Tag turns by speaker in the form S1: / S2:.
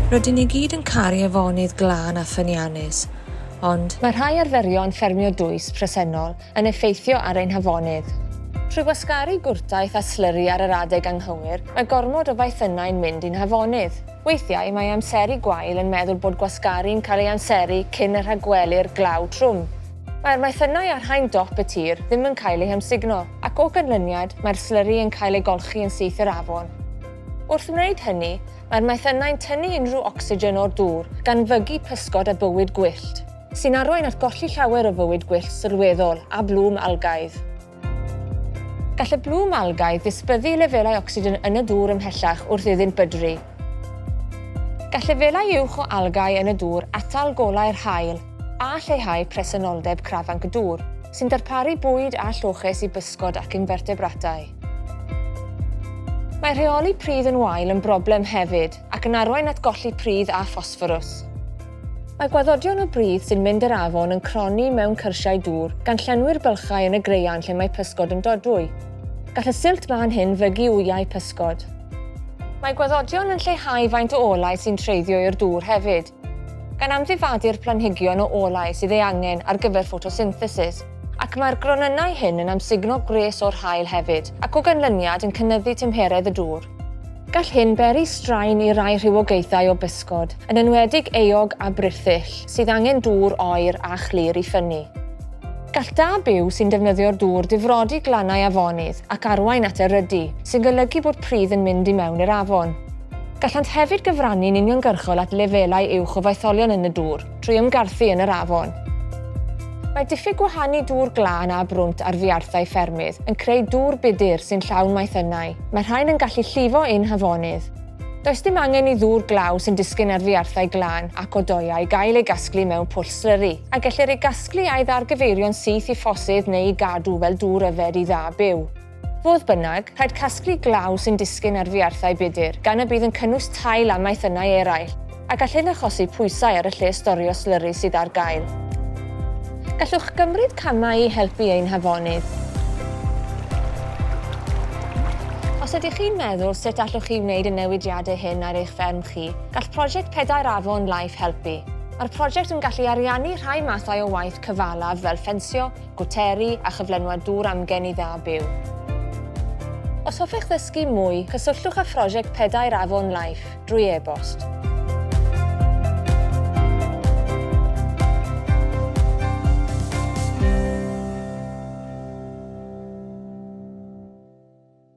S1: Rydyn ni gyd yn caru afonydd glân a ffyniannus, ond. Mae rhai arferion ffermio dwys presennol yn effeithio ar ein hafonydd. Trwy wasgaru gwrtaith a slyri ar yr adeg anghywir, mae gormod o faethynnau'n mynd i'n hafonydd. Weithiau, mae amseru gwael yn meddwl bod gwasgaru'n cael ei amseru cyn y rhagwelir glaw trwm. Mae'r maethynnau ar haen dop y tir ddim yn cael eu hamsugno. ac o ganlyniad mae'r slyri yn cael ei golchi yn syth i'r afon. Wrth wneud hynny, mae'r maethynnau'n tynnu unrhyw ocsigen o'r dŵr, gan fygu pysgod a bywyd gwyllt, sy'n arwain at golli llawer o fywyd gwyllt sylweddol a blwm algaidd. Gall y blwm algaidd ddisbyddu i lefelau ocsigen yn y dŵr ymhellach wrth iddynt bydru. Gall lefelau uwch o algâu yn y dŵr atal golau'r haul a lleihau presenoldeb crafanc y dŵr, sy'n darparu bwyd a lloches i bysgod ac infertebratau. Mae rheoli pridd yn wael yn broblem hefyd ac yn arwain at golli pridd a ffosfforws. Mae gwaddodion o bridd sy'n mynd i'r afon yn cronni mewn cyrsiau dŵr, gan llenwi'r bylchau yn y graean lle mae pysgod yn dodwy. Gall y silt mân hyn fygu wyau pysgod. Mae gwaddodion yn lleihau faint o olau sy'n treiddio i'r dŵr hefyd, gan amddifadu'r planhigion o olau sydd ei angen ar gyfer ffotosynthesis, ac mae'r gronynnau hyn yn amsugno gwres o'r haul hefyd, ac o ganlyniad yn cynyddu tymheredd y dŵr. Gall hyn beri straen i rai rhywogaethau o bysgod, yn enwedig eog a brithyll, sydd angen dŵr oer a chlir i ffynnu. Gall da byw sy'n defnyddio'r dŵr difrodi glannau afonydd ac arwain at erydu, sy'n golygu bod pridd yn mynd i mewn i'r afon. Gallant hefyd gyfrannu'n uniongyrchol at lefelau uwch o faetholion yn y dŵr trwy ymgarthu yn yr afon. Mae diffyg gwahanu dŵr glân a brwnt ar fiarthau ffermydd yn creu dŵr budur sy'n llawn maethynnau. Mae rhain yn gallu llifo ein hafonydd. Does dim angen i ddŵr glaw sy'n disgyn ar fuarthau glân ac o doeau gael ei gasglu mewn pwll slyri, a gellir ei gasglu a'i ddargyfeirio'n syth i ffosydd neu'i gadw fel dŵr yfed i dda byw. Fodd bynnag, rhaid casglu glaw sy'n disgyn ar fuarthau budr, gan y bydd yn cynnwys tail a maethynnau eraill. A gall hyn achosi pwysau ar y lle storio slyri sydd ar gael. Gallwch gymryd camau i helpu ein hafonydd. Os ydych chi'n meddwl sut allwch chi wneud y newidiadau hyn ar eich fferm chi, gall Prosiect Pedair Afon Life helpu. Mae'r prosiect yn gallu ariannu rhai mathau o waith cyfalaf fel ffensio, gwteru a chyflenwad dŵr amgen i dda byw. Os hoffech ddysgu mwy, cysylltwch â Phrosiect Pedair Afon Life. drwy e-bost.